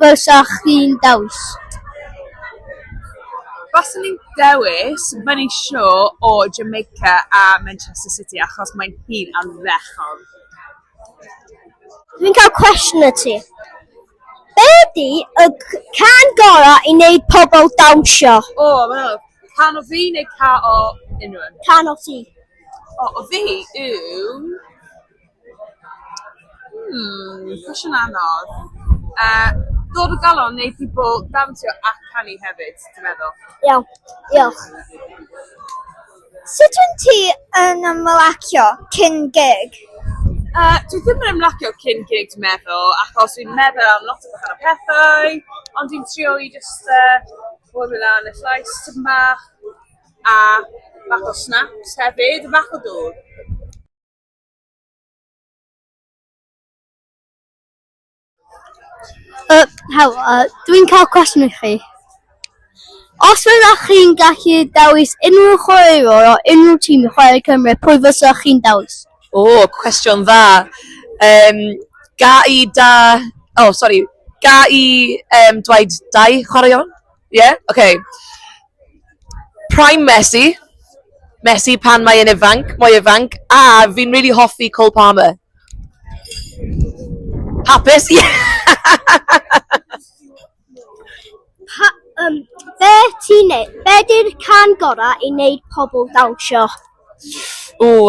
Bysa chdi'n dewis? Baswn i'n dewis fy nisho o Jamaica a Manchester City achos mae hi'n ardderchog. Dwi'n cael cwestiwn i ti. Be ydy y can gorau i wneud pobl dawnsio? O wel, can o fi neu ca o unrhywun? Can o ti. O o fi yw... Hmm, cwestiwn anodd. Yy, dod o galon neu ti 'bo dawnsio a canu hefyd, ti'n meddwl? Iawn, diolch. Sut wyt ti yn ymlacio cyn gig? Yy, dwi ddim yn ymlacio cyn gig dwi meddwl, achos dwi'n meddwl am lot o wahanol pethau, ond dwi'n trio i jyst yy clywed lan y llais tipyn bach, a bach o snaps hefyd, bach o dwd. Yy helo yy dwi'n ca'l cwestiwn i chi. Os fyddech chi'n gallu dewis unrhyw chwaraewr o unrhyw tîm i chwarae i Cymru pwy fysech chi'n dewis? O cwestiwn dda yym ga' i da- o sori ga' i yym dweud dau chwaraeon? Ie? Ocê. Prime Messi. Messi pan mae e'n ifanc, mwy ifanc. A fi'n rili hoffi Cole Palmer. Hapus? Ie! Pa, um, be ti'n neud? Be di'r can gorau i wneud pobl dawnsio? Ww,